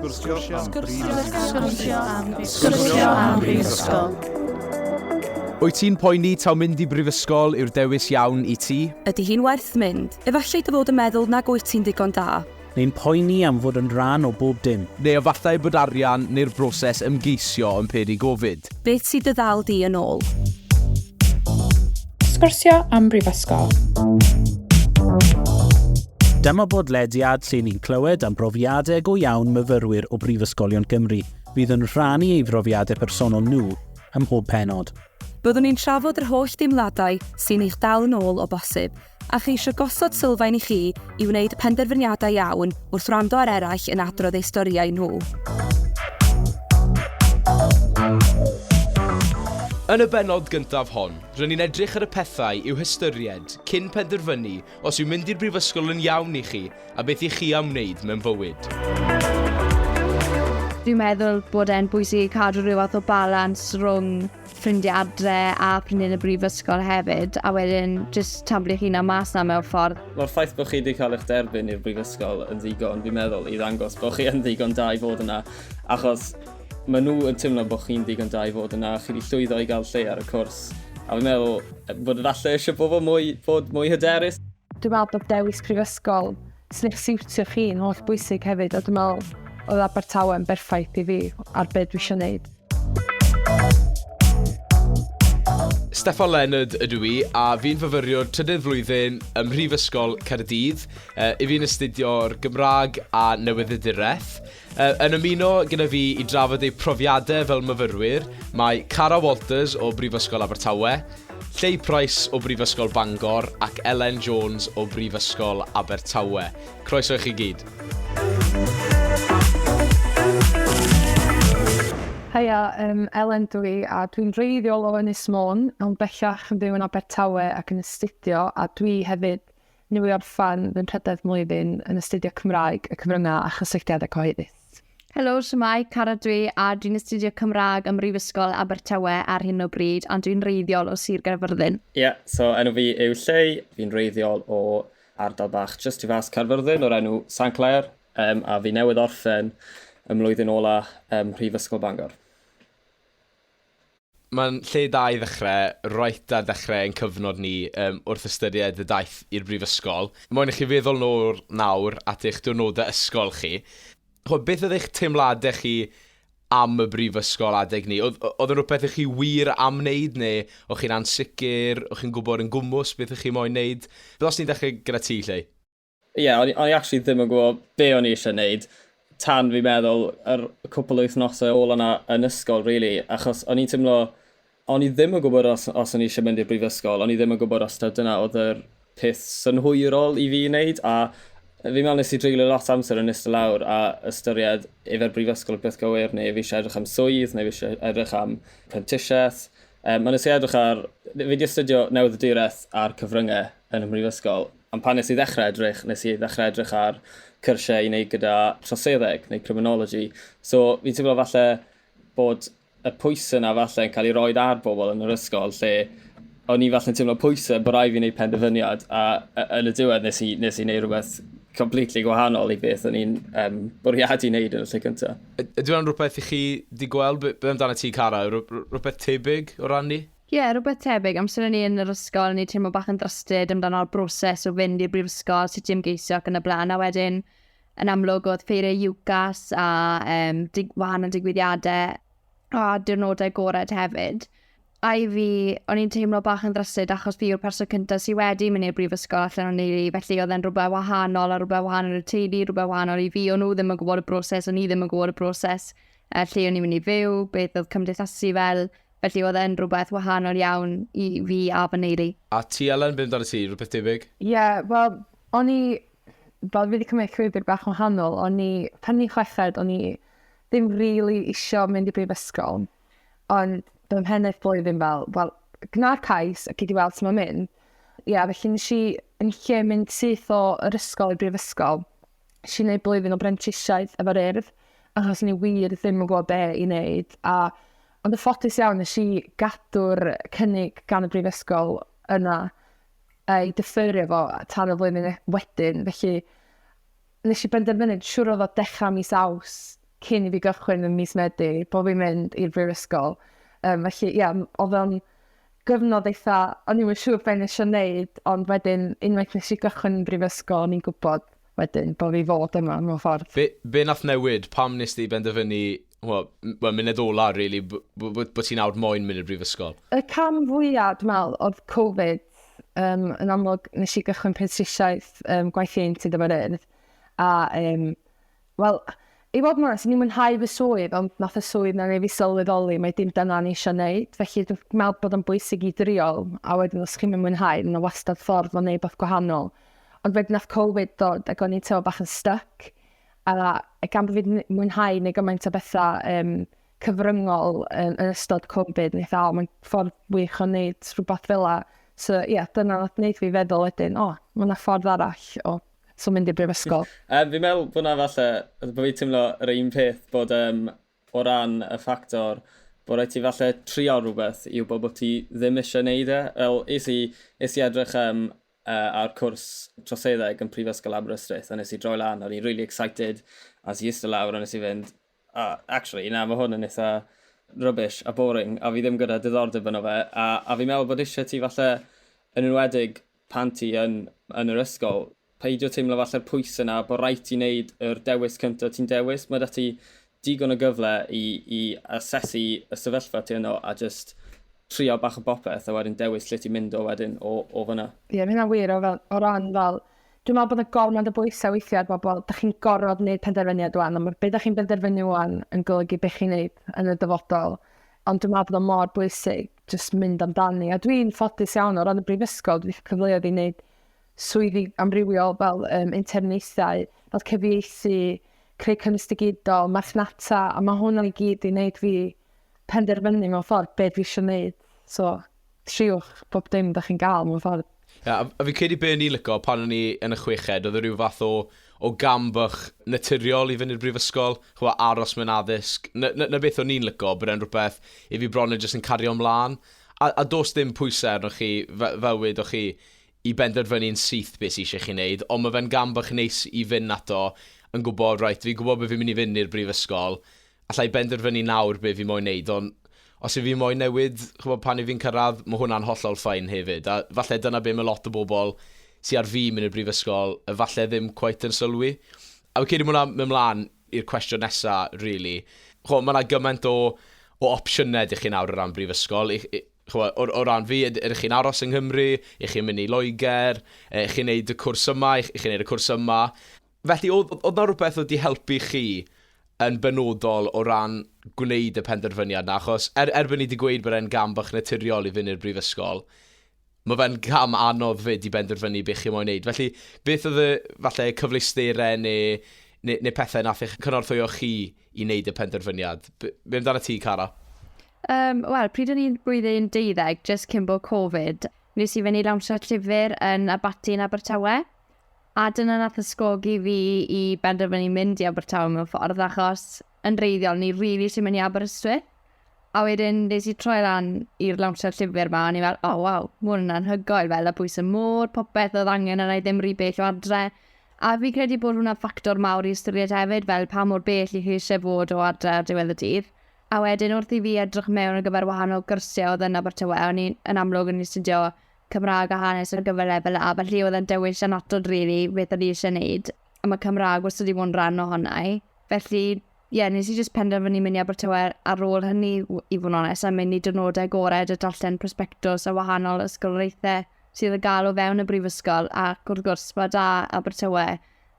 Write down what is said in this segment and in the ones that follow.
Sgwrsio am brifysgol. Sgwrsio am brifysgol. Wyt ti'n poeni taw mynd i brifysgol yw'r dewis iawn i ti? Ydy hi'n werth mynd? Efallai dy fod yn meddwl nag wyt ti'n ddigon da. Neu'n poeni am fod yn rhan o bob dim. Neu efallai bod arian neu'r broses ymgeisio yn peri gofid. Beth sydd dy ddal di yn ôl? Sgwrsio am Brifysgol. Dyma bodlediad lle ni'n clywed am brofiadau go iawn myfyrwyr o Brifysgolion Gymru fydd yn rhannu ei brofiadau personol nhw ym mhob penod. Byddwn ni'n trafod yr holl deimladau sy'n eich dal yn ôl o bosib, A cheisio gosod sylfaen i chi i wneud penderfyniadau iawn wrth wrando ar eraill yn adrodd eu storïau nhw. Yn y bennod gyntaf hon, rydyn ni'n edrych ar y pethau i'w hystyried cyn penderfynu os yw mynd i'r brifysgol yn iawn i chi a beth i chi am wneud mewn bywyd. Dwi'n meddwl bod e'n bwysig i cadw rhyw fath o balans rhwng ffrindiau adre a ffrindiau yn y brifysgol hefyd, a wedyn jyst tablu chi'n am mas na mewn ffordd. Mae'r ffaith bod chi wedi cael eich derbyn i'r brifysgol yn ddigon, fi'n meddwl, i ddangos bod chi yn ddigon da i fod yna, achos mae nhw yn teimlo bod chi'n ddigon da i fod yna, chi wedi llwyddo i gael lle ar y cwrs, a fi'n meddwl bod efallai eisiau bobl mwy, bod mwy hyderus. Dwi'n meddwl bod dewis prifysgol sy'n eich siwtio chi yn holl bwysig hefyd, a dwi'n meddwl oedd Abertawe yn berffaith i fi ar beth dwi eisiau gwneud. Steffan Leonard ydw i, a fi'n fyfyriwr trydydd flwyddyn ym Mhrifysgol Caerdydd. Uh, I fi'n astudio'r Gymraeg a Newyddiaduraeth. Yy yn ymuno gyda fi i drafod eu profiadau fel myfyrwyr, mae Cara Walters o Brifysgol Abertawe, Lleu Price o Brifysgol Bangor ac Elen Jones o Brifysgol Abertawe. Croeso i chi gyd. Haia, yym Elen dw i a dwi'n wreiddiol o Ynys Môn ond bellach yn byw yn Abertawe ac yn astudio a dwi hefyd Nhw i orffen fy nhrydedd mlwyddyn yn astudio Cymraeg, y Cyfryngau a Chysylltiadau Cyhoeddus. Helo, shwmae, Cara dwi, a dwi'n astudio Cymraeg ym Mhrifysgol Abertawe ar hyn o bryd, ond dwi'n wreiddiol o Sir Gaerfyrddin. Ie, yeah, so enw fi yw Lleu, fi'n wreiddiol o ardal bach just tu fas Caerfyrddin o'r enw San Clair, um, a fi newydd orffen y mlwyddyn ola ym Mhrifysgol Bangor. Mae'n lle da i ddechrau, reit ar ddechrau ein cyfnod ni, yym, wrth ystyried y daith i'r brifysgol. Moyn i chi feddwl nôl nawr at eich diwrnodau ysgol chi. Chimod, beth oedd eich teimladau chi am y brifysgol adeg 'ny? Oedd, oedd yn rhywbeth i chi wir am wneud, neu o'ch chi'n ansicr, o'ch chi'n gwybod yn gwmws beth o'ch chi moyn wneud? Fel os ni'n dechrau gyda ti, Lleu. Ie, yeah, o'n i actually ddim yn gwybod be o'n i eisiau gwneud tan fi meddwl yr cwpl o wythnosau ôl yna yn ysgol, really, achos o'n i'n teimlo, o'n i ddim yn gwybod os, os o'n i eisiau mynd i'r brifysgol, o'n i ddim yn gwybod os ta dyna oedd yr peth synhwyrol i fi wneud, a fi'n meddwl nes i dreulio lot amser yn ystod lawr a ystyried efo'r brifysgol y peth gywir, neu fi eisiau edrych am swydd, neu fi eisiau edrych am prentisiaeth. Um, a nes i edrych ar, fi wedi astudio newydd y dyreth a'r cyfryngau yn y brifysgol, Ond pan nes i ddechrau edrych, nes i ddechrau edrych ar cyrsiau i wneud gyda troseddeg neu criminology. So fi'n teimlo falle bod y pwysau yna falle yn cael ei roed ar bobl yn yr ysgol lle o'n i falle'n teimlo pwysau bod rai fi wneud penderfyniad a, a yn y diwedd nes i, nes i wneud rhywbeth completely gwahanol i beth o'n i'n um, bwriadu wneud yn y lle cyntaf. Ydy hwnna'n rhywbeth i chi di gweld? Be, be amdano ti, Cara? Rhywbeth tebyg o ran ni? Ie, rhywbeth tebyg. Amser o'n i yn yr ysgol, o'n i'n teimlo bach yn drysted amdano'r broses o fynd i'r brifysgol, sut i ymgeisio ac yn y blaen. A wedyn, yn amlwg, oedd ffeiriau UCAS a um, dig, wahanol digwyddiadau a diwrnodau gored hefyd. A i fi, o'n i'n teimlo bach yn ddrysyd achos fi yw'r person cyntaf sydd wedi mynd i'r brifysgol allan o'n neili, felly oedd e'n rhywbeth wahanol a rhywbeth wahanol i'r teulu, rhywbeth wahanol i fi, o'n nhw ddim yn gwybod y broses, o'n i ddim yn gwybod y broses, a lle o'n i'n mynd i fyw, beth oedd cymdeithasu fel, Felly oedd e'n rhywbeth wahanol iawn i fi a fy nheulu. A ti Elen, be amdanat ti, rhywbeth debyg? Ie, wel, o'n i, fel fi 'di cymryd llwybr bach wahanol, o'n i, pan o'n i'n chweched, o'n i ddim rili isio mynd i brifysgol, ond fy mhennaeth blwyddyn fel, wel, gwna'r cais a gei di weld sut mae'n mynd. Ie, felly nes i yn lle mynd syth o'r ysgol i'r brifysgol, Nes i neud blwyddyn o brentisiaeth efo'r Urdd, achos ni wir ddim yn gwybod be i wneud. A, ond y ffodus iawn, nes i gadw'r cynnig gan y brifysgol yna ei dyffyrio fo tan y flwyddyn e- wedyn. Felly, nes i benderfynu, siwr oedd o dechrau mis aws cyn i fi gychwyn yn mis medu, bod fi'n mynd i'r brifysgol. Um, felly, ie, yeah, oedd o'n gyfnod eitha, o'n i'm yn siŵr be' nesh i neud, ond wedyn unwaith nesh i gychwyn yn brifysgol o'n i'n gwbod wedyn bo' fi fod yma mewn ffordd. Be' be' nath newid? Pam nest ti benderfynu, wel, m- wel munud ola rili b- b- b- bo' ti nawr moyn mynd i'r brifysgol? Y cam fwya dwi me'wl odd Covid, yym yn amlwg nesh i gychwyn prentisiaeth yym gwaith ieuenctid a ma' rei- a yym Wel, i fod yn onest, o'n i'n mwynhau fy swydd, ond nath y swydd 'na neu' fi sylweddoli mae dim dyna o'n i isio neud, felly dwi'n me'wl bod o'n bwysig i drio, a wedyn os chi'm yn mwynhau, ma' 'na wastad ffordd o neud wbath gwahanol. Ond wedyn nath Covid ddod ac o'n i'n teimlo bach yn styc, a gan bo' fi 'di n- mwynhau neu' gymaint o betha um, cyfryngol yn, yn ystod Covid, o'n i fatha, o, mae'n ffordd wych o neud rhywbeth fel la. So, ie, yeah, dyna nath neud fi feddwl wedyn, o, oh, mae yna ffordd arall o So mynd i'r brifysgol. Yym fi'n meddwl bod 'na falle, bod fi'n teimlo yr un peth bod yym o ran y ffactor bod rhaid ti falle trio rhywbeth i wybod bod ti ddim eisiau gwneud e. Fel es i, es i edrych um, uh, ar cwrs troseddeg yn Prifysgol Aberystwyth a nes i droi lan a o'n i'n really excited a nes i eistedd lawr a nes i fynd A, actually, na, mae hwn yn eitha rubbish a boring, a fi ddim gyda diddordeb yno fe, a, a fi'n meddwl bod eisiau ti falle, yn enwedig pan ti yn, yn yr ysgol, peidio teimlo falle'r pwys yna bod rhaid ti wneud yr dewis cyntaf ti'n dewis. Mae da ti digon o gyfle i, i asesu y sefyllfa ti yno a just trio bach o bopeth a wedyn dewis lle ti'n mynd o wedyn o, o fyna. Ie, mae hynna'n wir o, fel, o ran fel, Dwi'n meddwl bod 'na gormod o bwysa weithia' ar bobol, 'dach chi'n gorfod neud penderfyniad ŵan, a ma' be' 'dach chi'n benderfynu ŵan yn golygu be' chi'n neud yn y dyfodol. Ond dwi'n meddwl bod o mor bwysig jyst mynd amdani, a dwi'n ffodus iawn o ran y brifysgol, dwi 'di ca'l cyfleoedd i neud swyddi amrywiol fel um, interniaethau, fel cyfieithu, creu cynnwys digidol, marchnata, a mae hwnna i gyd i wneud fi penderfynu mewn ffordd beth fi eisiau wneud. So, triwch bob dim da chi'n ga'l mewn ffordd. Ie a a fi'n credu be o'n i'n lico pan o'n i yn y chweched oedd e ryw fath o o gam bach naturiol i fyny'r brifysgol, ch'mo' aros mewn addysg. 'Na 'na 'na beth o'n i'n lico bod e'n rhywbeth i fi bron yn jyst yn cario mlan. A a do's dim pwyse arnoch chi fe- fel wedoch chi i benderfynu'n syth be' sy isie chi neud ond ma' fe'n gam bach neis i fyn' ato yn gwbo reit fi'n gwbo be' fi'n myn' i fyn' i'r brifysgol alla i benderfynu nawr be fi moyn neud, ond os yw fi moyn newid, ch'mod, pan yw fi'n cyrraedd, ma' hwnna'n hollol fine hefyd, a falle dyna be ma' lot o bobl sy ar fin mynd i'r brifysgol efalle ddim cweit yn sylwi. A fi'n credu ma' hwnna'n mynd mlan i'r cwestiwn nesa rili. Ch'mo', ma' 'na gymaint o o opsiyne 'da chi nawr o ran brifysgol, i i ch'mo', o o ran fi, yd- ydych chi'n aros yng Nghymru, 'ych chi'n mynd i Loegr, yy 'ych chi'n neud y cwrs yma, 'ych 'ych chi'n neud y cwrs yma. Felly, oedd, oedd, oedd na rhywbeth oedd wedi helpu chi yn benodol o ran gwneud y penderfyniad na? Achos er, erbyn ni wedi gweud bod e'n gam bach naturiol i fynd i'r brifysgol, mae fe'n gam anodd fyd i benderfynu beth chi moyn wneud. Felly, beth oedd y falle, cyfleusterau neu, neu, neu pethau nath eich cynorthwyo chi i wneud y penderfyniad? Be amdano ti, Cara? Um, Wel, pryd o'n i'n blwyddyn deuddeg, just cyn bod Covid, nes i fynd i lawnsio llyfr yn Abaty yn Abertawe. A dyna nath ysgogi fi i benderfynu mynd i Abertawe mewn ffordd, achos yn reiddiol ni rili isie mynd i Aberystwyth. A wedyn nes i troi lan i'r lawnsiad llyfr 'ma, o'n i fel, o waw, ma' hwn yn anhygoel, fel y pwys y môr, popeth o'dd angen arna i ddim ry bell o adre. A fi'n credu bod hwnna'n ffactor mawr i ystyried hefyd, fel pa mor bell 'ych chi isie fod o adre ar diwedd y dydd. A wedyn wrth i fi edrych mewn ar gyfer wahanol gyrsie o'dd yn Abertawe, o'n i yn amlwg yn astudio Cymraeg a hanes ar gyfer lefel A, felly oedd e'n dewis anatod rili beth o'n i eisiau gwneud, a mae Cymraeg wastad wedi bod yn rhan ohona i. Felly, ie, yeah, nes i jyst penderfynu mynd i Abertawe ar ôl hynny, i fod yn onest, a mynd i dynodau gorau a darllen prospectos a wahanol ysgolreithau sydd y gael o fewn y brifysgol, ac wrth gwrs, mae da Abertawe,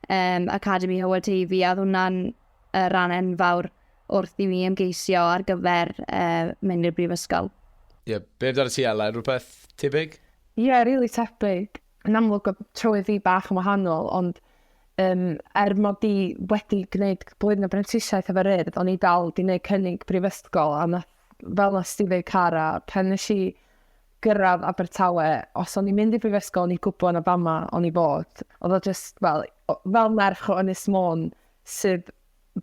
um, Academi Hywel Teifi, a oedd hwnna'n y rhan enfawr wrth i mi ymgeisio ar gyfer uh, mynd i'r brifysgol. Ie, yeah, be amdano ti Ella? Rhywbeth tebyg? Ie, yeah, rili really tebyg. Yn amlwg o trywydd fi bach yn wahanol, ond um, er mod i wedi gwneud blwyddyn o brentisiaeth efo'r urdd, o'n i dal di wneud cynnig brifysgol, a nath fel na Steve Cara, pan nes i gyrraedd Abertawe, os o'n i'n mynd i brifysgol, o'n i'n gwybod na fama o'n i fod. Oedd o just, fel, fel merch o Ynys Môn, sydd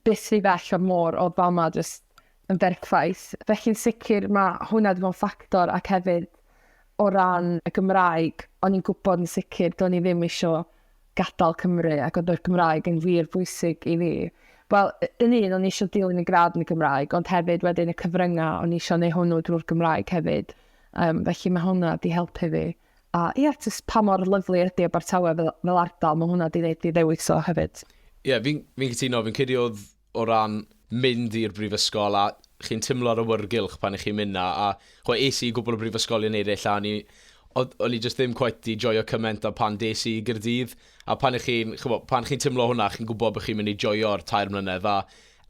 byth rhy bell o'r môr oedd fama jyst yn berffaith. Felly'n sicr mae hwnna wedi bod yn ffactor ac hefyd o ran y Gymraeg, o'n i'n gwybod yn sicr do'n i ddim eisiau gadael Cymru ac oedd y Gymraeg yn wir bwysig i fi. Wel, yn un, o'n i eisiau dilyn y gradd yn y Gymraeg, ond hefyd wedyn y cyfryngau, o'n i eisiau neu hwnnw drwy'r Gymraeg hefyd. Um, felly mae hwnna wedi helpu fi. A ia, jyst pa mor lyfli ydi Abertawe fel, fel ardal, mae hwnna di wneud fi ddewis o hefyd. Ie, yeah, fi'n fi cytuno, fi'n credu oedd o ran mynd i'r brifysgol a chi'n timlo ar awyrgylch pan i chi'n mynd na, a chwe, es i gwbl o brifysgolion eraill a o'n i, o'n i just ddim quite di joio cyment a pan des i gyrdydd, a pan i chi'n, pan chi'n timlo hwnna, chi'n gwybod bod chi'n mynd i joio'r tair mlynedd, a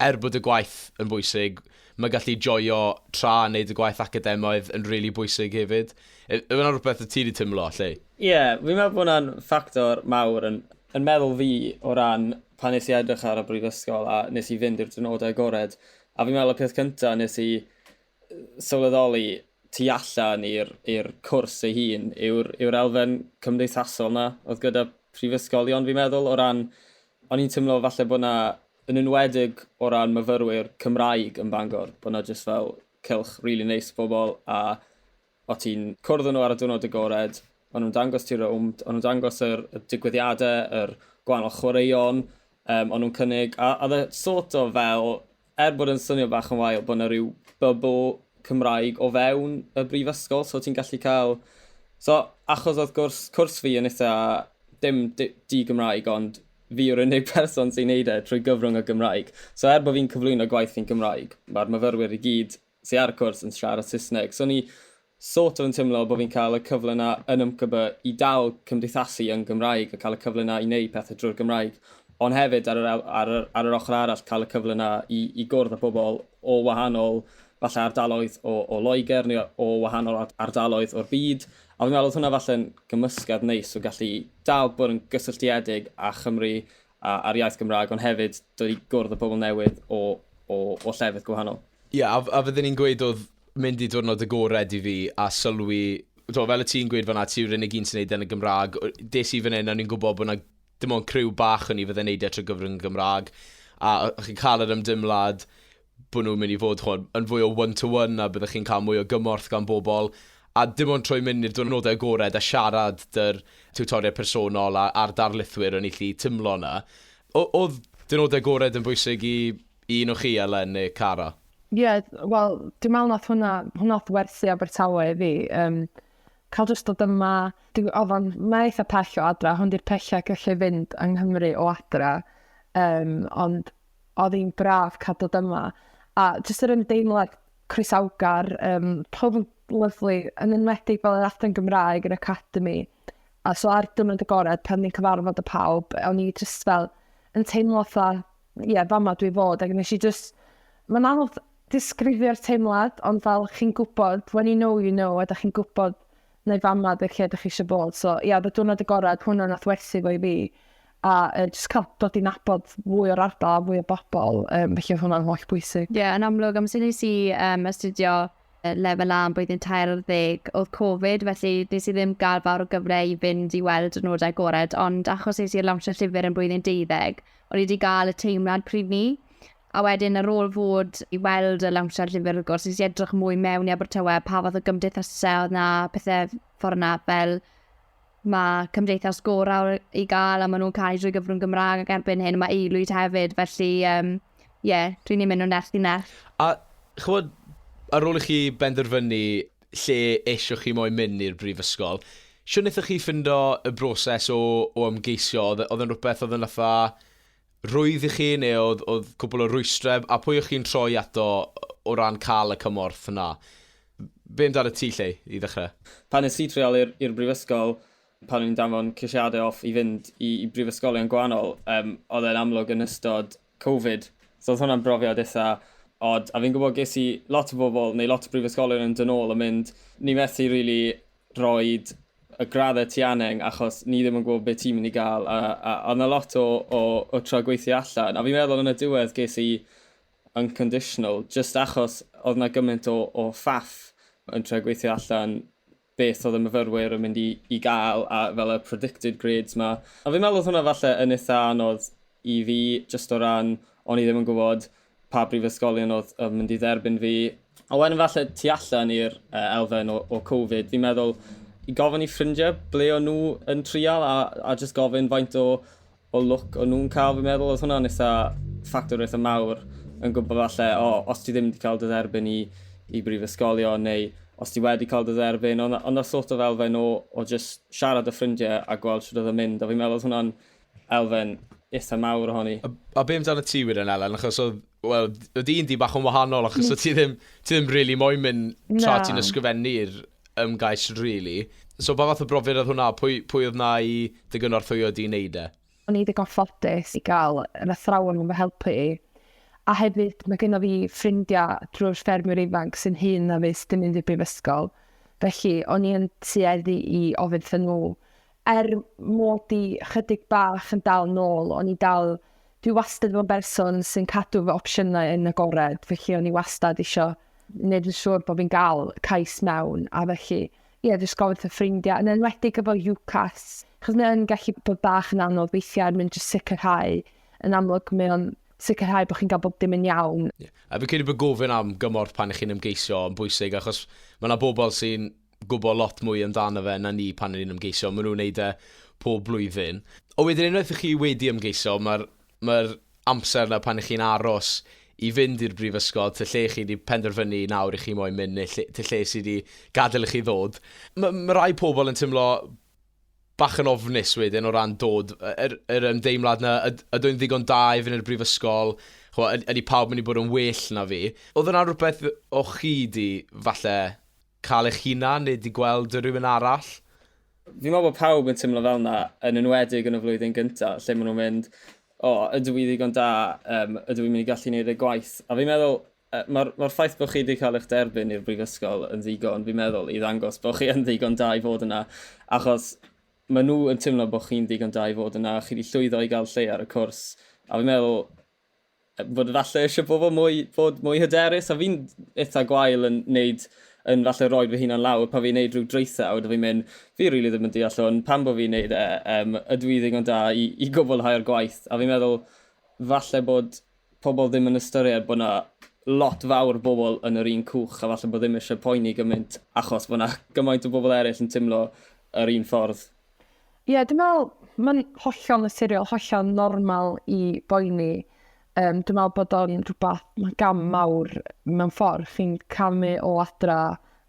er bod y gwaith yn bwysig, mae gallu joio tra yn neud y gwaith academaidd yn rili really bwysig hefyd. Yw yna rhywbeth y ti di timlo, Lleu? Ie, fi'n meddwl bod hwnna'n ffactor mawr yn yn meddwl fi o ran pan nes i edrych ar y brifysgol a nes i fynd i'r diwrnodau agored a fi'n meddwl y peth cynta nes i sylweddoli tu allan i'r i'r cwrs ei hun yw'r yw'r elfen cymdeithasol 'na oedd gyda prifysgolion fi'n meddwl o ran o'n i'n teimlo falle bod 'na yn enwedig o ran myfyrwyr Cymraeg yn Bangor bod 'na jyst fel cylch rili neis o bobl a o' ti'n cwrdd â nhw ar y diwrnod agored, o'n nhw'n dangos ti rownd, o'n nhw'n dangos yr, y digwyddiadau, yr gwahanol chwaraeon um, o'n nhw'n cynnig, a oedd e sort o fel, er bod yn swnio bach yn wael, bod yna rhyw bybl Cymraeg o fewn y brifysgol, so ti'n gallu cael... So, achos oedd gwrs, cwrs fi yn eitha dim di-Gymraeg, ond Fi yw'r unig person sy'n neud e trwy gyfrwng y Gymraeg. So er bo fi'n cyflwyno gwaith fi'n Gymraeg, mae'r myfyrwyr i gyd sy ar y cwrs yn siarad Saesneg. So o'n i sort of yn timlo bo fi'n cael y cyfle 'na yn UMCB i dal cymdeithasu yn Gymraeg a cael y cyfle 'na i neud pethe drwy'r Gymraeg. Ond hefyd ar yr ar yr ar yr ochr arall cael y cyfle 'na i i gwrdd â pobl o wahanol falle ardaloedd o o Loegr neu o wahanol ardaloedd o'r byd A fi'n meddwl oedd hwnna falle'n gymysgedd neis o gallu dal bod yn gysylltiedig â Chymru a a'r iaith Gymraeg ond hefyd dod i gwrdd â pobl newydd o o o llefydd gwahanol. Ie a a fydden i'n gweud oedd mynd i diwrnod agored i fi a sylwi t'mo' fel o' ti'n gweud fan'na ti yw'r unig un sy'n neud e yn y Gymraeg o- des i fan 'yn a o'n i'n gwbod bo' 'na Dim ond criw bach o'n i fydde'n neud e trwy gyfrwng y Gymraeg, a o- o'ch chi'n cael yr ymdeimlad bod nhw'n mynd i fod, ch'mod, yn fwy o one to one a byddech chi'n cael mwy o gymorth gan bobl, a dim ond trwy mynd i'r diwrnodau agored a siarad 'da'r tiwtoriaid personol a a'r darlithwyr o'n i 'llu timlo 'na. O- o'dd diwrnodau agored yn bwysig i i un o chi, Elen neu Cara? Ie, wel, dwi'n meddwl wnaeth hwnna, hwnna wnaeth werthu Abertawe i fi, yym, cael jyst dod yma, dwi, oedd o'n maith a pell o adra, hwn di'r pellau gallu fynd yng Nghymru o adra, um, ond oedd hi'n braf cael dod yma. A jyst yr ymdeimlad croesawgar, um, pob yn lyflu, yn enwedig fel yr adran Gymraeg, yr Academy. A so ar dwrnod y gorau, pan ni'n cyfarfod y pawb, o'n i jyst fel yn teimlo fatha ie, yeah, fama dwi fod, ac nes i just, mae'n anodd disgrifio'r teimlad, ond fel chi'n gwybod, when you know, you know, a da chi'n gwybod neu fama dy lle ydych chi eisiau bod. So, ia, yeah, diwrnod y gorau, hwnna nath werthu fo i fi. A uh, just cael dod i nabod fwy o'r ardal a fwy o bobl, um, felly hwnna'n holl bwysig. Ie, yeah, yn amlwg, amser nes i um, astudio Lefel A yn blwyddyn tair ar ddeg oedd Covid, felly nes i ddim gael fawr o gyfle i fynd i weld y nodau agored, ond achos es i i'r lawnsio llyfr yn blwyddyn deuddeg, o'n i 'di gael y teimlad pryd 'ny. A wedyn ar ôl fod i weld y lawnsiad llyfr wrth gwrs, nes i edrych mwy mewn i Abertawe, pa fath o gymdeithasau oedd 'na, pethe ffor 'na, fel Mae Cymdeithas Gorau i gael a maen nhw'n cael drwy gyfrwng Gymraeg ac erbyn hyn mae Eilwyd hefyd, felly ie, um, yeah, dwi'n ei mynd o nerth i nerth. A chymod, ar ôl i chi benderfynu lle eisiau chi moyn mynd i'r brifysgol, siwr wnaethoch chi ffindo y broses o, o ymgeisio, oedd, e, oedd yn rhywbeth oedd yn fatha Roedd i chi neu oedd, oedd cwpl o rwystrau, a pwy o'ch chi'n troi ato o ran cael y cymorth 'na? Be amdan y ti Lleu, i ddechrau? Pan es i trial i'r i'r brifysgol, pan o'n i'n danfon ceisiadau off i fynd i i brifysgolion gwahanol, yym, oedd e'n amlwg yn ystod Covid, so oedd hwnna'n brofiad eitha' od, a fi'n gwybod ges i lot o bobl, neu lot o brifysgolion yn dod nôl a mynd, 'ni methu rili roid y graddau ti angen achos ni ddim yn gwybod beth ti'n mynd i gael a, a, a na lot o, o, o tro gweithio allan a fi'n meddwl yn y diwedd ges i unconditional just achos oedd na gymaint o, o ffaff yn tro gweithio allan beth oedd y myfyrwyr yn mynd i, i gael a fel y predicted grades ma a fi'n meddwl oedd hwnna falle yn eitha anodd i fi just o ran o'n i ddim yn gwybod pa brifysgolion oedd, oedd mynd i dderbyn fi. A wedyn falle tu allan i'r uh, elfen o, o Covid, fi'n meddwl i gofyn i ffrindiau ble o'n nhw yn trial a, a just gofyn faint o, o look o'n nhw'n cael, fi'n meddwl, oedd hwnna'n eitha ffactor eitha mawr yn gwybod falle, o, oh, os ti ddim wedi cael dy dderbyn i, i brifysgolion neu os ti wedi cael dy dderbyn, ond, ond na sort of elfen o, o just siarad y ffrindiau a gweld sydd oedd yn mynd, a fi'n meddwl oedd hwnna'n Elfen eitha mawr ohoni. A, a be amdano ti wir yn Elen? Achos oedd, wel, oedd un di bach yn wahanol, achos oedd ti ddim, ti ddim really moyn mynd tra ti'n ysgrifennu'r ymgais, really. So, pa fath o brofiad oedd hwnna? Pwy, pwy oedd na i dy gynorthwyo di i wneud e? O'n i ddigon ffodus i gael yr athrawon yn fy helpu i. A hefyd, mae genno fi ffrindiau drwy'r ffermwyr ifanc sy'n hyn na fus dim mynd i'r brifysgol. Felly, o'n i yn tueddu i ofyn wrthyn nhw er mod i chydig bach yn dal nôl, o'n i dal, dwi wastad yn berson sy'n cadw fy opsiynau yn agored, felly o'n i wastad isio wneud yn siŵr bod fi'n gael cais mewn, a felly, ie, yeah, jyst gofyn fy ffrindiau, yn enwedig efo UCAS, chos mae'n gallu bod bach yn anodd weithiau er mynd jyst sicrhau, yn amlwg mae'n sicrhau bod chi'n cael bob dim yn iawn. Yeah. A fi'n credu bod gofyn am gymorth pan ych chi'n ymgeisio yn bwysig, achos mae yna bobl sy'n gwybod lot mwy amdano fe na ni pan o'n ni'n ymgeisio. Maen nhw'n wneud e pob blwyddyn. Ond wedyn unwaith ych chi wedi ymgeisio, mae'r ma amser yna pan ych chi'n aros i fynd i'r brifysgol, ty lle chi wedi penderfynu nawr i chi moyn mynd, neu lle, ty lle sydd wedi gadael i chi ddod. Mae ma rai pobl yn teimlo bach yn ofnus wedyn o ran dod, yr, yr ymdeimlad na, yd, ydw i'n ddigon da i fynd i'r brifysgol, chwa, ydy pawb mynd i bod yn well na fi. Oedd yna rhywbeth o'ch chi di falle Cael eich hunan neu di gweld rhywun arall? Fi'n meddwl bod pawb yn teimlo fel yna, yn enwedig yn y flwyddyn gyntaf, lle maen nhw'n mynd, o, ydw i ddigon da, um, ydw i'n mynd i gallu gwneud y gwaith. A fi'n meddwl, mae'r ma ffaith bod chi wedi cael eich derbyn i'r brifysgol yn ddigon, fi'n meddwl, i ddangos bod chi yn ddigon da i fod yna, achos maen nhw yn teimlo bod chi'n ddigon da i fod yna, chi wedi llwyddo i gael lle ar y cwrs, a fi'n meddwl, fod efalle eisiau pobl mwy, fod mwy hyderus, a fi'n eitha gwael yn neud, yn falle roi fy hunan lawr pan fi'n neud rhyw draethau, a fi'n mynd, fi rili really ddim yn deall hwn, pan bod fi'n neud e, um, ydw i ddigon da i, i gwblhau'r gwaith, a fi'n meddwl, falle bod pobl ddim yn ystyried bod yna lot fawr o bobl yn yr un cwch, a falle bod ddim eisiau poeni gymaint, achos bod yna gymaint o bobl eraill yn teimlo yr un ffordd. Ie, dwi'n meddwl, mae'n hollol naturiol, hollol normal i boeni. Um, dwi'n meddwl bod o'n rhywbeth, mae'n gam mawr mewn ffordd. Chi'n camu o adra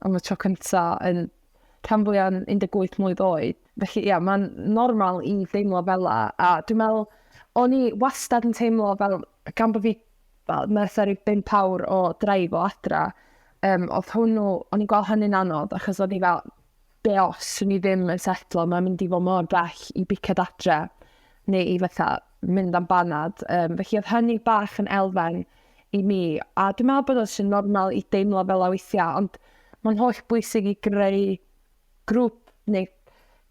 am y tro cynta yn rhan fwyaf 18 mlynedd oed. Felly, ie, mae'n normal i deimlo fel la. A dwi'n meddwl, o'n i wastad yn teimlo fel, gan bod fi, fel, nes ar i bimp awr o draif o adra, um, oedd hwnnw, o'n i'n gweld hynny'n anodd, achos o'n i fel, be os swn i ddim yn setlo, mae'n mynd i fod mor bell i bicad adre, neu i fatha mynd am banad. Um, felly oedd hynny bach yn elfen i mi, a dwi'n meddwl bod o'n sy'n normal i deimlo fel a weithiau, ond mae'n holl bwysig i greu grŵp neu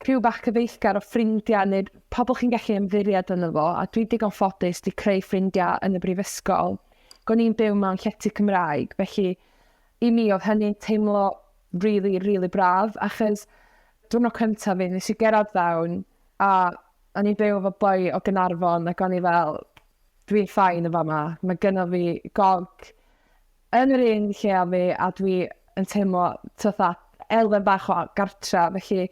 criw bach cyfeillgar o ffrindiau neu pobl chi'n gallu ymddiried yn efo, a dwi digon ffodus di creu ffrindiau yn y brifysgol. Gw'n i'n byw mewn llety Cymraeg, felly I mi oedd hynny'n teimlo rili, rili braf achos diwrnod cyntaf fi, nes i gerdded fewn a o'n i'n byw efo boi o Gaernarfon ac o'n i fel, dwi'n fine yn fama, mae gynno fi gog yn yr un lle a fi a dwi yn teimlo fatha elfen bach o gartra, felly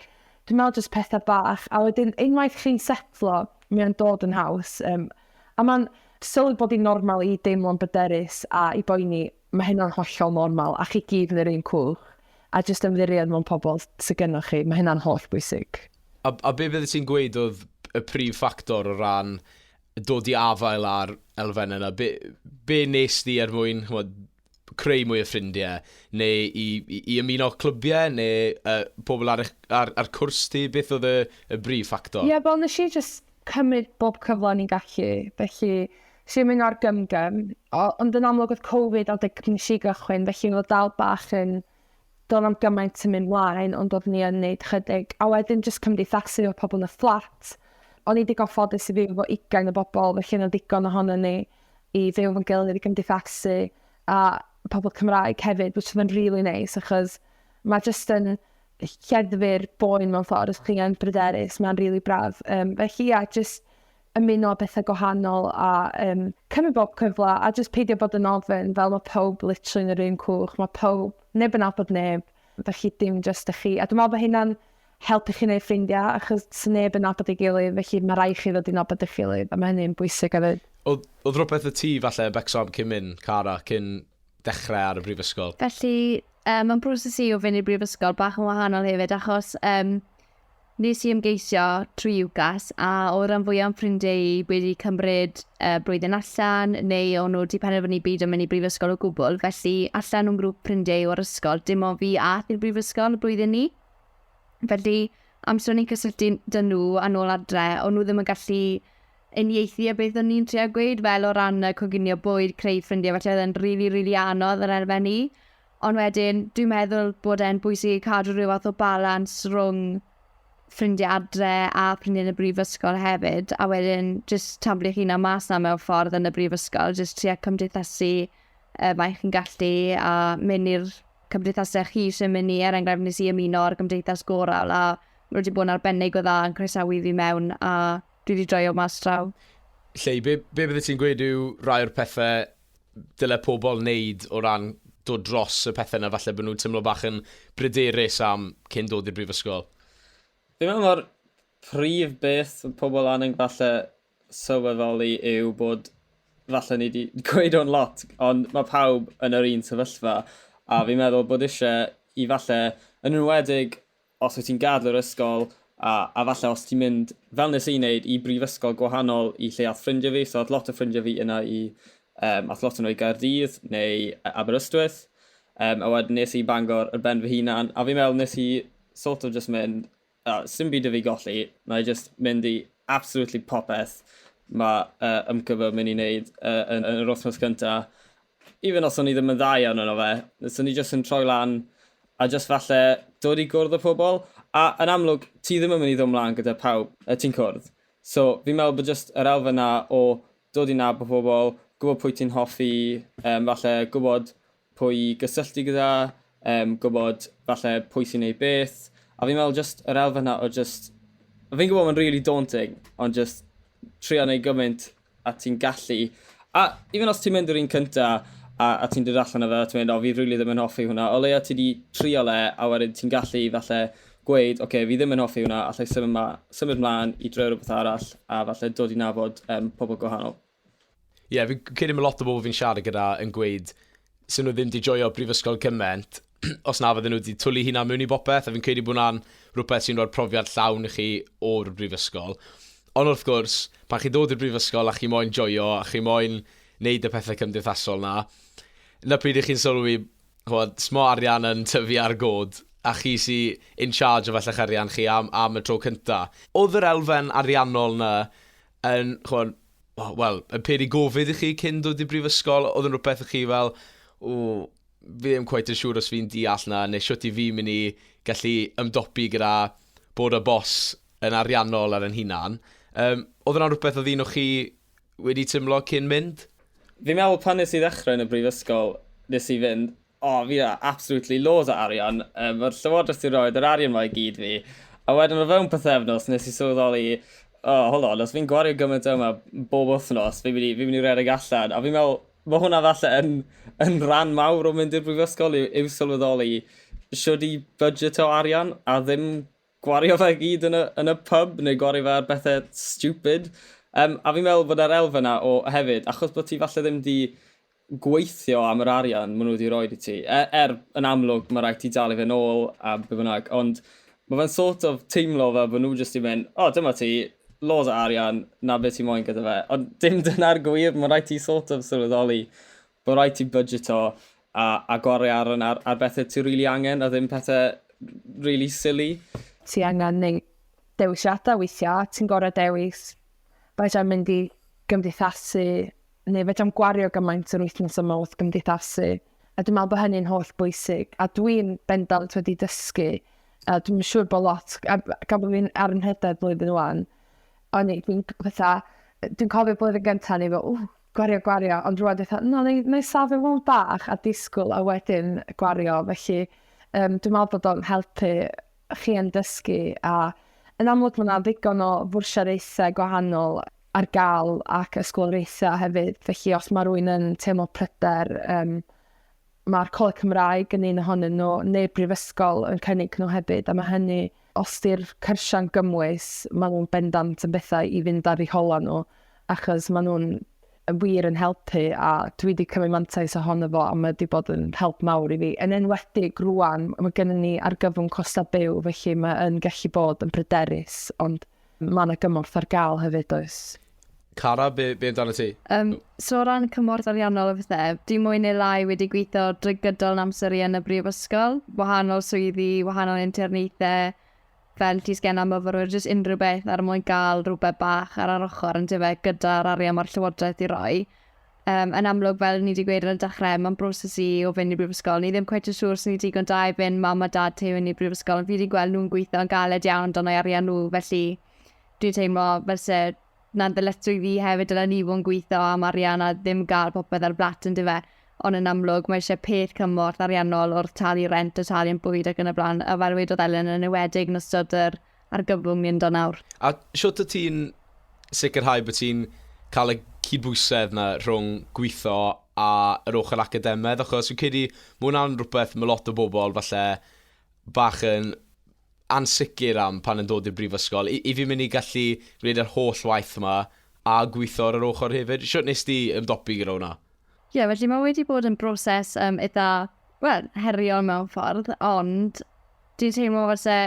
dwi'n meddwl jyst pethau bach a wedyn unwaith chi'n setlo, mae o'n dod yn haws. Um, a mae'n sylwi bod hi'n normal i deimlo'n byderus a i boeni Mae hynna'n hollol normal, a chi gyd yn yr un cwch, a jyst ymddiried mewn pobl sy gynnoch chi, mae hynna'n holl bwysig. A, a be fyddet ti'n gweud oedd y prif ffactor o ran dod i afael â'r elfennau yna? Be, be nes di er mwyn, chymod, creu mwy o ffrindiau, neu i, i, i ymuno clybiau, neu uh, pobl ar, ar, ar cwrs ti? Beth oedd y, y brif ffactor? Ie, yeah, wel, nes i just cymryd bob cyfle o'n i'n gallu, felly nes i ymuno â'r gymgym, ond yn amlwg oedd Covid adeg nes i gychwyn, felly oedd dal bach yn do'n am gymaint yn mynd mlaen, ond oedd ni yn neud chydig. A wedyn jyst cymdeithasu efo pobl yn y fflat. O'n i digon ffodus i fyw efo ugain o bobl, felly yna ddigon ohono ni i fyw efo'n gilydd i gymdeithasu, a pobl Cymraeg hefyd, which oedd yn really nice, achos mae jyst yn lleddfu'r boen mewn ffordd, os chi'n bryderus, mae'n rili really braf. Um, felly, ia, jyst ymuno â bethau gwahanol a um, cymryd bob cyfle a jyst peidio bod yn ofyn fel mae pawb literally yn yr un cwch, mae pawb, neb yn abod neb, felly dim jyst ych chi. A dwi'n meddwl bod hynna'n helpu chi wneud ffrindiau achos sy'n neb yn abod ei gilydd, felly mae rai chi ddod i'n abod eich gilydd a mae hynny'n bwysig hefyd. Oedd, oedd rhywbeth y ti falle y becsom cyn mynd, Cara, cyn dechrau ar y brifysgol? Felly, Yym, mae'n broses i o fynd i'r brifysgol bach yn wahanol hefyd achos um, nes i ymgeisio trwy UCAS a o ran fwy o'n ffrindiau i wedi cymryd uh, blwyddyn allan neu o'n nhw wedi penderfynu byd yn mynd i brifysgol o gwbl felly allan o'n grŵp ffrindiau o'r ysgol dim ond fi a i'r brifysgol y blwyddyn ni. Felly amser o'n i'n cysylltu dyn nhw a nôl adre o'n nhw ddim yn gallu uniaethu a beth o'n i'n trio gweud fel o ran yy coginio bwyd, creu ffrindie felly oedd e'n rili rili anodd yr elfen i. Ond wedyn dwi'n meddwl bod e'n bwysig i cadw rhyw fath o balans rhwng ffrindie adre a ffrindie yn y brifysgol hefyd a wedyn jyst taflu eich hunan mas 'na mewn ffordd yn y brifysgol jyst tria cymdeithasu yy mae chi'n gallu a mynd i'r cymdeithasau chi eisiau mynd i er enghraifft nes i ymuno â'r gymdeithas gorawl a ma' nhw wedi bod yn arbennig o dda yn croesawu fi mewn a dwi 'di joio mas draw. Lleu, be, be bydde ti'n gweud yw rai o'r pethau dyle pobl wneud o ran dod dros y pethau yna falle bod nhw'n tymlo bach yn bryderus am cyn dod i'r brifysgol? Fi'n meddwl mae'r prif beth pobl angen falle sylweddoli yw bod falle ni wedi gweud o'n lot, ond mae pawb yn yr un sefyllfa, a fi'n meddwl bod eisiau i falle, yn enwedig Os wyt ti'n gadael yr ysgol, a a falle os ti'n mynd, fel nes i wneud, i brifysgol gwahanol i lle ath ffrindiau fi, so ath lot o ffrindiau fi yna i, yym, ath lot o nhw i Gaerdydd neu Aberystwyth, yym, a wedyn nes i i Bangor ar ben fy hunan, a fi'n meddwl nes i sort of jyst mynd, a, sdim byd 'da fi golli, wna i jyst mynd i absolutely popeth ma' yy YMCA fy myn' i neud yy yn yn yr wythnos cynta, Even os o'n i ddim yn dda iawn yno fe, so ni jyst yn troi lan a jyst falle dod i gwrdd y pobl, a yn amlwg ti ddim yn mynd i ddod mlaen gyda pawb y ti'n cwrdd. So fi'n meddwl bod jyst yr elfen na o dod i nabod pobl, gwybod pwy ti'n hoffi, um, falle gwybod pwy i gysylltu gyda, um, gwybod falle pwy sy'n neud beth, a fi'n meddwl jyst yr elfen na o jyst, fi'n gwybod mae'n really daunting, ond jyst trio neud gymaint a ti'n gallu. A even os ti'n mynd yr un cynta a, a ti'n dod allan o fe a ti'n mynd, o fi rili ddim yn hoffi hwnna, o leia ti wedi trial e a wedyn ti'n gallu falle gweud, oce, okay, fi ddim yn hoffi hwnna, allai symud, ma, symud mlaen i droi rhywbeth arall a falle dod i nabod um, pobl gwahanol. Ie, yeah, fi'n credu mae lot o bobl fi'n siarad gyda yn gweud, 'sen nhw ddim 'di joio brifysgol gymaint os na fydden nhw 'di twlu eu hunain mewn i bopeth, a fi'n credu bod hwnna'n rhywbeth sy'n rhoi'r profiad llawn i chi o'r brifysgol. Ond wrth gwrs, pan chi'n dod i'r brifysgol a chi moyn joio a chi moyn wneud y pethau cymdeithasol 'na, 'na pryd i chi'n sylwi, chimod, smo arian yn tyfu ar god, a chi sy in charge o fella'ch arian chi am am y tro cynta. Oedd yr elfen ariannol 'na yn, ch'mod, o, wel, yn peri gofid i chi cyn dod i brifysgol? Oedd yn rhywbeth i chi fel, o, fi ddim cweit yn siŵr os fi'n deall na, neu siwt i fi'n mynd i gallu ymdopi gyda bod y bos yn ariannol ar yn hunan. Um, oedd yna rhywbeth oedd un o chi wedi tymlo cyn mynd? Fi'n meddwl pan nes i ddechrau yn y brifysgol, nes i fynd, O, fi na, absolutely loads o arian. Um, Mae'r llywodraeth sy'n rhoi yr arian mae i gyd fi. A wedyn o fewn pethefnos, nes i sylweddoli, o, oh, hold on, os fi'n gwario gymaint yma bob wythnos, fi'n mynd i, fi mynd i redeg allan. A fi'n meddwl, mae hwnna falle yn, yn rhan mawr o mynd i'r brifysgol yw, yw sylweddoli siwr i budget o arian a ddim gwario fe gyd yn y, yn y pub neu gwario fe ar bethau stupid. Um, a fi'n meddwl bod yr elfen yna o hefyd, achos bod ti falle ddim di gweithio am yr arian maen nhw wedi rhoi i ti. Er, er yn amlwg mae rhaid ti dalu fe'n ôl a be bynnag, ond mae fe'n sort of teimlo fel bod nhw jyst i mynd, o oh, dyma ti, loads o arian, na beth ti moyn gyda fe. Ond dim dyna'r gwir, mae rhaid ti sort of sylweddoli bod rhaid ti budgeto a, a gwario ar, ar, ar bethau ti'n rili really angen a ddim pethau rili really silly. Ti angen neu dewisiadau weithiau, ti'n gorau dewis beth am mynd i gymdeithasu neu fedrai'm gwario gymaint o'r wythnos yma wrth gymdeithasu, a dwi'n meddwl bod hynny'n holl bwysig, a dwi'n bendant wedi dysgu, a dwi'n siŵr bod lot, a gan bod fi'n ar ymhededd blwyddyn wan, o'n i, dwi'n fatha, dwi'n cofio blwyddyn gyntaf ni fel, ww, gwario, gwario, ond rwan dwi'n fatha, no, neu, neu safio mewn bach a disgwyl a wedyn gwario, felly um, dwi'n meddwl bod o'n helpu chi yn dysgu a yn amlwg mae yna ddigon o fwrsiaraethau gwahanol ar gael ac ysgoloriaethau hefyd, felly os mae rwy'n yn teimlo pryder, um, mae'r Coleg Cymraeg yn un ohonyn nhw, neu brifysgol yn cynnig nhw hefyd, a mae hynny, os di'r cyrsiau'n gymwys, mae nhw'n bendant yn bethau i fynd ar ei hola nhw, achos mae nhw'n wir yn helpu a dwi wedi cymryd mantais ohono fo a mae wedi bod yn help mawr i fi. Yn enwedig rwan, mae gennym ni argyfwng costau byw, felly mae'n gallu bod yn bryderus, ond Mae 'na gymorth ar gael hefyd, does? Cara, be, be amdano ti? Um, so o ran cymorth ariannol a bethau, e, dwi mwy neu lai wedi gweithio drwy gydol yn amser i yn y brifysgol, wahanol swyddi, wahanol interneithau, fel ti sgen am myfyrwyr, jyst unrhyw beth ar er mwyn gael rhywbeth bach ar yr ochr yn dyfe gyda'r arian mae'r llywodraeth i roi. Um, yn amlwg, fel ni wedi gweud ar y dechrau, mae'n broses i o fynd i brifysgol. Ni ddim cweith yn siŵr sy'n ni digon da i fynd mam a dad tew yn i brifysgol, ond fi wedi gweld nhw'n gweithio'n galed iawn dan o'i arian nhw, felly dwi'n teimlo fel se na'n ddyletswydd fi hefyd dylen ni fod yn gweithio am arian a ddim gael popeth ar blat yn dyfe. Ond yn amlwg, mae eisiau peth cymorth ariannol wrth talu rent a talu yn bwyd ac yn y blaen, a fel wedodd Elen yn ewedig yn ystod yr argyfwng ni ynddo nawr. A shwt wyt ti'n sicrhau bod ti'n cael y cydbwysedd 'na rhwng gweithio a yr ochr academedd, achos fi'n credu ma' hwnna'n rhywbeth ma' lot o bobl falle bach yn ansicr am pan yn dod i'r brifysgol. I, i fi mynd i gallu gwneud yr holl waith yma a gweithio ar yr ochr hefyd. Shwt nes ti ymdopi gyda hwnna? Ie, yeah, felly mae wedi bod yn broses um, eitha, wel, heriol mewn ffordd, ond dwi'n teimlo fel se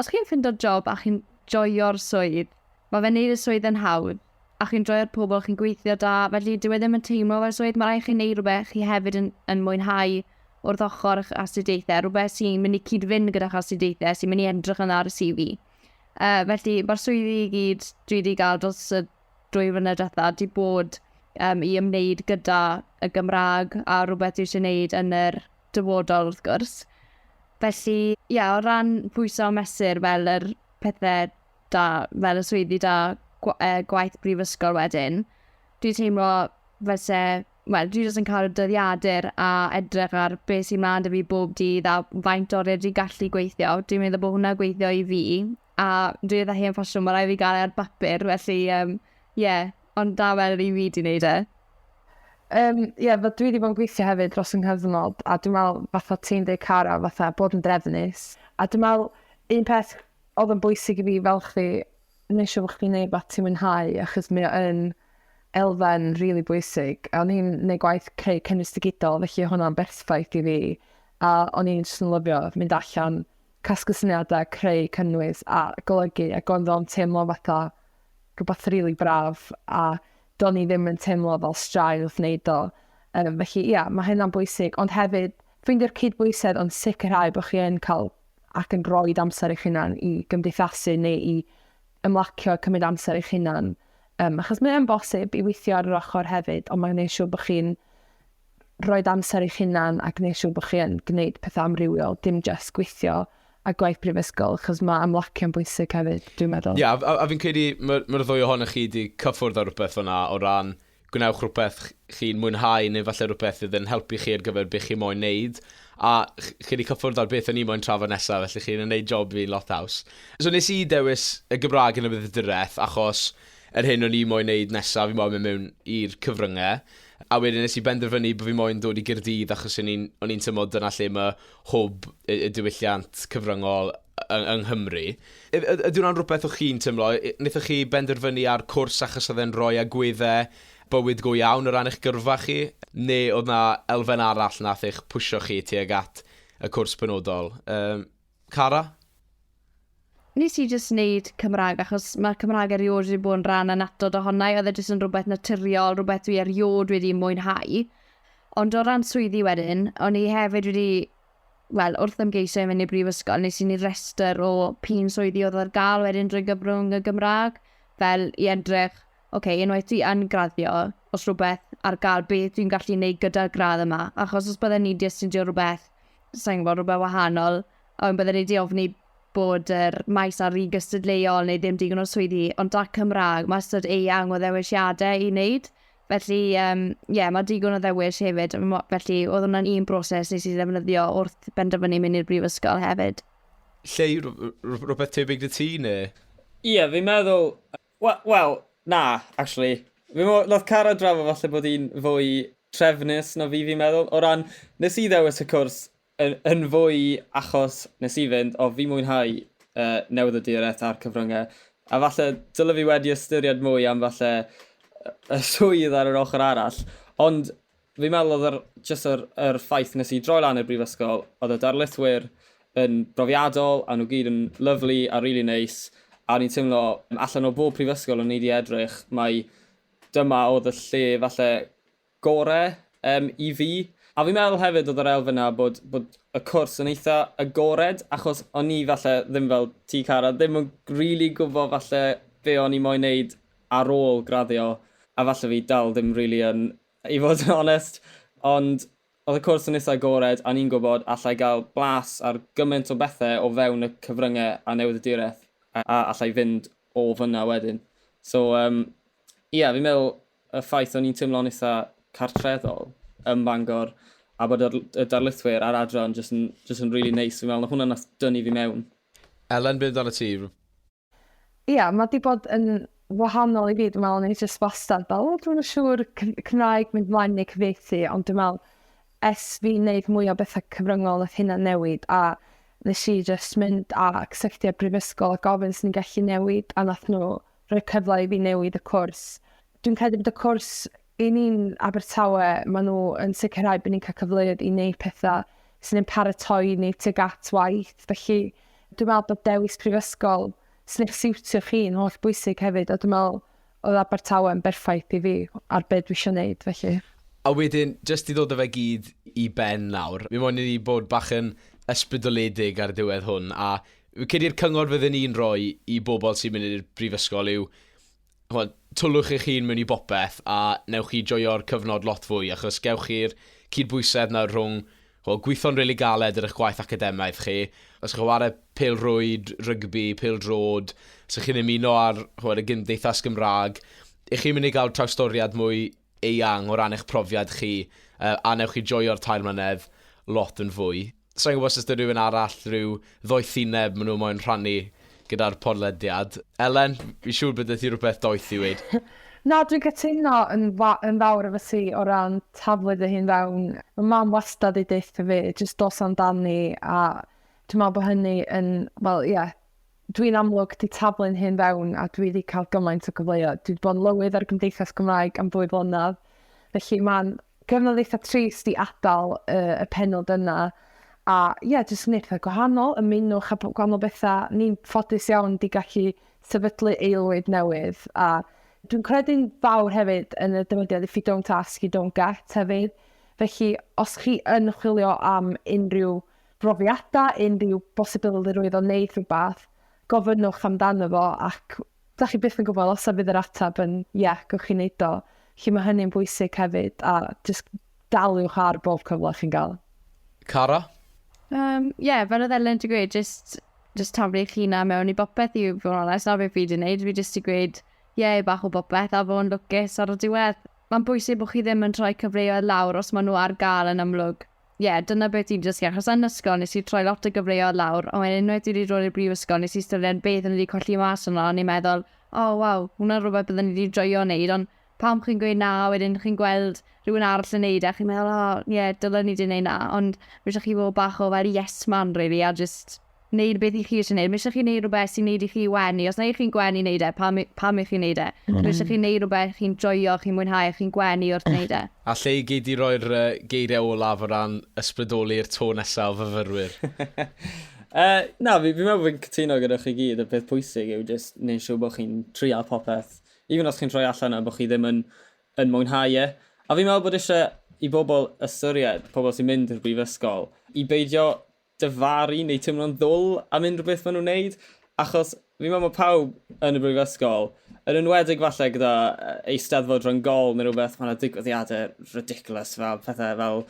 Os chi'n ffindo'r job a chi'n joio'r swydd, mae fe'n neud y swydd yn hawdd, a chi'n joio'r pobl chi'n gweithio 'da, felly dyw e ddim yn teimlo fel swydd, mae rhaid i chi neud rhywbeth chi hefyd yn yn mwynhau wrth ochr eich astudiaethau, rhywbeth sy'n mynd i cyd-fynd gyda'ch astudiaethau, sy'n mynd i edrych yn dda ar y CV. Uh, felly, mae'r swyddi i gyd dwi wedi gael dros y dwy flynedd diwetha wedi bod um, i ymwneud gyda y Gymraeg a rhywbeth dwi eisiau gwneud yn yr dyfodol wrth gwrs. Felly, ie, o ran pwyso a mesur fel yr pethe da, fel y swyddi da, gwa- yy, gwaith brifysgol wedyn, dwi'n teimlo fel se, wel, dwi jyst yn cael y dyddiadur a edrych ar be sy'n mlaen 'da fi bob dydd a faint o oriau dwi'n gallu gweithio. Dwi'n meddwl bod hwnna gweithio i fi a dwi edrych hen ffasiwn, mae rhaid fi gael e ar bapur, felly, ie, um, yeah, ond da fel yr un fi di wneud e. Um, yeah, fe dwi wedi bod yn gweithio hefyd dros yng nghyfnod, a dwi'n meddwl fatha ti'n dweud cara, fatha bod yn drefnus. A dwi'n meddwl, un peth oedd yn bwysig i fi fel chdi, nes i bod chdi'n neud beth ti'n mwynhau, achos mi o'n elfen rili really bwysig. A o'n i'n neud gwaith creu cynnwys digidol, felly hwnna'n berffaith i fi. A o'n i'n just yn lyfio mynd allan, casglu syniadau, creu, cynnwys a golygu ac oedd o'n teimlo fatha rhywbeth rili really braf a do'n i ddim yn teimlo fel straen wrth wneud o. Um, felly ia, mae hynna'n bwysig, ond hefyd ffeindio'r cydbwysedd ond sicrhau bod chi yn cael ac yn rhoi amser eich hunan i gymdeithasu neu i ymlacio cymryd amser eich hunan. Um, achos mae'n bosib i weithio ar yr ochr hefyd, ond mae'n gwneud siŵr bod chi'n roed amser i'ch hunan a gwneud siŵr bod chi yn gwneud pethau amrywiol, dim just gweithio a gwaith prifysgol, achos mae amlacio'n bwysig hefyd, dwi'n meddwl. Ie, yeah, a, a, a fi'n credu mae'r ma ddwy ohonoch chi wedi cyffwrdd ar rhywbeth o'na o ran gwnewch rhywbeth chi'n mwynhau neu falle rhywbeth fydd yn helpu chi ar gyfer beth chi moyn neud a chi wedi cyffwrdd ar beth o'n i moyn trafod nesaf felly chi'n yn neud job fi'n lot haws. So nes i dewis y Gymraeg yn y bydydureth achos yr hyn o'n i moyn neud nesaf fi'n moyn mynd mewn i'r cyfryngau A wedyn nes i benderfynu bo' fi moyn dod i Gaerdydd achos o'n i'n o'n i'n tymlo dyna lle ma' hwb y y diwylliant cyfryngol y- yng Nghymru. Yw yd- ydy wnna'n rwbeth o' chi'n tymlo? Y- nethoch chi benderfynu ar cwrs achos odd e'n roi agwedde bywyd go iawn o ran eich gyrfa chi? Ne' odd 'na elfen arall nath eich pwsio chi tuag at y cwrs penodol? Yym. Cara? Nes i jyst neud Cymraeg achos ma' Cymraeg eriôd wedi bod yn rhan annatod ohona i, oedd e jyst yn rhywbeth naturiol, rhywbeth dwi eriôd wedi mwynhau. Ond o ran swyddi wedyn, o'n i hefyd wedi, wel, wrth ymgeisio i fynd i'r brifysgol, nes i neud rhestr o p'un swyddi oedd ar gael wedyn drwy gyfrwng y Gymraeg, fel i edrych, ok, unwaith dwi yn graddio, oes rhywbeth ar gael, beth dwi'n gallu neud gyda'r gradd yma, achos os bydden i'n di astudio rhywbeth sa i'n gwybod, rhywbeth wahanol, ond bydden ni wedi ofni bod yr maes ar un gystadleuol neu ddim digon o swyddi, ond da Cymraeg, mae ystod eang o ddewisiadau i wneud. Felly, ie, um, yeah, mae digon o ddewis hefyd. Felly, oedd hwnna'n un broses nes i ddefnyddio wrth benderfynu mynd i'r brifysgol hefyd. Lle, rhywbeth tebyg dy ti, neu? Ie, yeah, fi'n meddwl, Wel, wel, na, actually. Fi'n meddwl, nath Cara drafod falle bod hi'n fwy trefnus na fi, fi'n meddwl. O ran, nes i ddewis y cwrs yn, yn fwy achos nes i fynd, o fi mwynhau uh, newydd y diwrnod a'r cyfryngau. A falle, dylai fi wedi ystyried mwy am falle y swydd ar yr ochr arall. Ond Fi'n meddwl oedd yr, just yr, yr ffaith nes i droi lan i'r brifysgol, oedd y darlithwyr yn brofiadol, a nhw gyd yn lyflu a rili really neis, a o'n i'n teimlo allan o bob prifysgol o'n i wedi edrych, mae dyma oedd y lle falle gore um, i fi. A fi'n meddwl hefyd oedd yr elfen na bod, bod y cwrs yn eitha agored, achos o'n i falle ddim fel ti Cara, ddim yn rili really gwybod falle be o'n i moyn neud ar ôl graddio, a falle fi dal ddim rili really yn I fod yn onest, ond oedd y cwrs yn eitha agored a ni'n gwybod allai gael blas ar gymaint o bethau o fewn y cyfryngau a newyddiaduraeth a allai fynd o fan'na wedyn. So yym ia, fi'n meddwl y ffaith o'n i'n teimlo'n eitha cartreddol ym Bangor a bod yr y darlithwyr a'r adran jyst yn jyst yn rili neis, fi'n meddwl 'na hwnna nath dynnu fi mewn. Elen, be' amdanat ti? Ia, mae di bod yn wahanol i fi, dwi'n meddwl, ni jyst wastad fel, o, dwi'n siŵr Cymraeg mynd mlaen neu cyfeithi, ond dwi'n meddwl, es fi wneud mwy o bethau cyfryngol nath hynna newid, a nes i jyst mynd a cysylltu â brifysgol a gofyn sy'n gallu newid, a nath nhw rhoi cyfle i fi newid y cwrs. Dwi'n credu bod y cwrs I ni yn Abertawe, maen nhw yn sicrhau bod ni'n cael cyfleoedd i wneud pethau sy'n ein paratoi ni tuag at waith. Felly, dwi'n meddwl bod dewis prifysgol sy'n eich siwtio chi yn holl bwysig hefyd, a dwi'n meddwl oedd Abertawe yn berffaith i fi ar be dwi eisiau wneud, felly. A wedyn, jyst i ddod â fe gyd i ben nawr, fi moyn i ni bod bach yn ysbrydoledig ar ddiwedd hwn, a fi'n credu'r cyngor fydden i'n rhoi i bobl sy'n mynd i'r brifysgol yw ch'mod, twllwch eich hun mewn i bopeth a newch chi joio'r cyfnod lot fwy, achos gewch chi'r cydbwysedd 'na rhwng, ch'mod, gwitho'n rili galed ar eich gwaith academaidd chi, os chi'n chwarae pêl-rwyd, rygbi, pêl-droed, os 'ych chi'n ymuno â'r, ch'mod, y gymdeithas Gymraeg, 'ych chi'n mynd i gael trawstoriad mwy eang o ran eich profiad chi a wnewch chi joio'r tair mlynedd lot yn fwy. Sa i'n gwybod os oes 'da rhywun arall rhyw ddoethineb maen nhw moyn rhannu gyda'r podlediad. Elen, fi'n siŵr bod 'da ti rhywbeth doeth i weud. Na, dwi'n cytuno yn yn fawr efo ti o ran taflu dy hun fewn. Ma' mam wastad 'di deutha fi jyst dos amdani a dwi'n meddwl bod hynny yn wel ie Dwi'n amlwg 'di taflu'n hyn fewn a dwi 'di cael gymaint o gyfleoedd. Dwi 'di bod yn lywydd ar y Gymdeithas Gymraeg am ddwy flynedd, felly mae'n gyfnod eitha trist i adael uh, y penod yna. A ie, yeah, jyst yn eitha gwahanol, ymunwch a gwahanol bethau. Ni'n ffodus iawn di gallu sefydlu eilwyd newydd a Dwi'n credu'n fawr hefyd yn y dymudiad if you don't ask, you don't get hefyd. Felly, os chi yn chwilio am unrhyw brofiadau, unrhyw bosibilrwydd o wneud rhywbeth, gofynnwch amdano fo ac dach chi byth yn gwybod os a fydd yr ateb yn ie, gewch chi wneud o. Felly mae hynny'n bwysig hefyd a jyst daliwch ar bob cyfle chi'n gael. Cara? Yym, ie, fel oedd Elen 'di gweud, jyst, jyst taflu eich hunan mewn i bopeth i fod yn onest, na beth fi 'di wneud, fi jyst 'di gweud ie i bach o bopeth a fod yn lwcus ar y diwedd. Mae'n bwysig bod chi ddim yn rhoi cyfleoedd lawr os maen nhw ar gael yn amlwg. Ie, dyna beth dwi'n dysgu, achos yn ysgol nes i troi lot o gyfleoedd lawr, ond wedyn unwaith dwi 'di dod i'r brifysgol nes i ystyried beth o'n i 'di colli mas yno, o'n i'n meddwl, o waw, hwnna'n rhywbeth bydden i 'di joio neud, ond pam chi'n gweud na a wedyn chi'n gweld rhywun arall yn neud e a chi'n meddwl, o ie, dylen i 'di neud 'na, ond ma' isie chi fod bach o fel yes man rili a jyst wneud beth i chi eisiau wneud. Mae eisiau chi wneud rhywbeth sy'n wneud i chi wenu. Os na i chi'n gwenu i wneud e, pam, pam i chi wneud e? Mm. Mae eisiau chi wneud rhywbeth chi'n joio, chi'n mwynhau, chi'n gwenu wrth wneud e. A lle i gei di roi'r uh, geiriau olaf o ran ysbrydoli'r to nesaf o fyfyrwyr? uh, na, fi'n fi meddwl bod fi'n cytuno gyda chi gyd. Y peth pwysig yw jyst neud siw bod chi'n trial popeth. Even os chi'n troi allan yna bod chi ddim yn, yn mwynhau e. A fi'n meddwl bod eisiau i bobl ystyried, pobl sy'n mynd i'r brifysgol, i beidio difaru neu teimlo'n ddwl am unrhyw beth maen nhw'n wneud, achos fi'n meddwl mae pawb yn y brifysgol, yn enwedig falle gyda Eisteddfod Rhyng-gol neu rhywbeth, mae yna digwyddiadau ridiculous fel pethau fel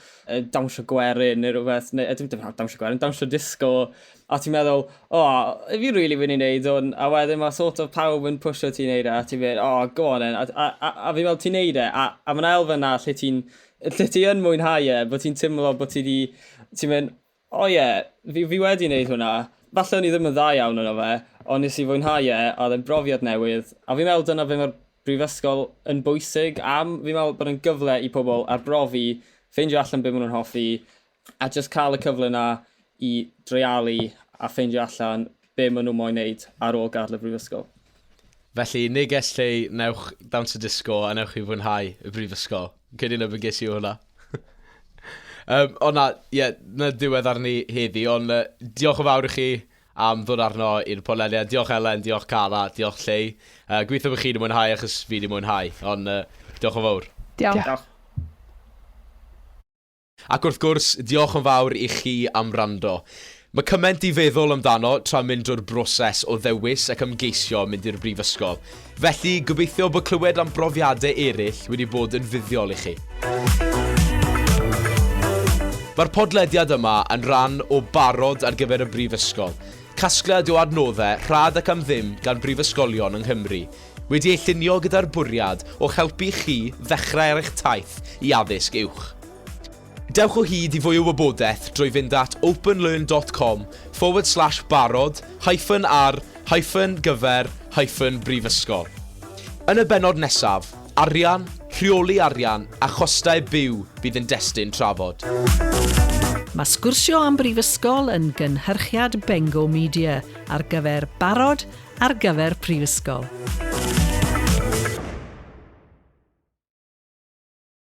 dawnsio gwerin neu rhywbeth, neu dim dim dawnsio gwerin, dawnsio disgo, a ti'n meddwl, o, oh, fi rili really mynd i wneud hwn, a wedyn mae sort of pawb yn pwysio ti'n neud e, a ti'n mynd, o, oh, go on then, a, a, a, a fi'n meddwl ti'n neud e, a, a mae'n elfen na lle ti'n Lle ti yn mwynhau e, bod ti'n teimlo bod ti di... Ti'n mynd, o ie, yeah, fi, fi wedi wneud hwnna. Falle o'n i ddim yn dda iawn yno fe, ond nes i fwynhau e, a oedd e'n brofiad newydd. A fi'n meddwl dyna fe mae'r brifysgol yn bwysig am, fi'n meddwl bod yn gyfle i pobl arbrofi, ffeindio allan beth maen nhw'n hoffi, A jyst cael y cyfle 'na i dreialu a ffeindio allan be maen nhw moyn wneud ar ôl gadael y brifysgol. Felly, neges lle i, newch dawns y disgo a newch chi fwynhau y brifysgol. Cydyn y bygis i hwnna. um, o na, ie, yeah, na diwedd arni heddi, ond uh, diolch yn fawr i chi am ddod arno i'r podlediad. Diolch Elen, diolch Cara, diolch Llei. Uh, Gweithio bod chi wedi mwynhau achos fi wedi mwynhau, ond uh, diolch yn fawr. Diolch. diolch. Ac wrth gwrs, diolch yn fawr i chi am wrando. Mae cymaint i feddwl amdano tra mynd drwy'r broses o ddewis ac ymgeisio mynd i'r brifysgol. Felly, gobeithio bod clywed am brofiadau eraill wedi bod yn fuddiol i chi. Mae'r podlediad yma yn rhan o Barod ar gyfer y Brifysgol, casgliad o adnoddau rhad ac am ddim gan brifysgolion yng Nghymru, Wedi ei llunio gyda'r bwriad o'ch helpu chi ddechrau ar eich taith i addysg uwch. Dewch o hyd i fwy o wybodaeth drwy fynd at openlearn dot com forward slash barod hyphen ar hyphen gyfer hyphen brifysgol. Yn y bennod nesaf, arian, rheoli arian a chostau byw bydd yn destun trafod. Mae Sgwrsio am Brifysgol yn gynhyrchiad Bengo Media ar gyfer barod ar gyfer prifysgol.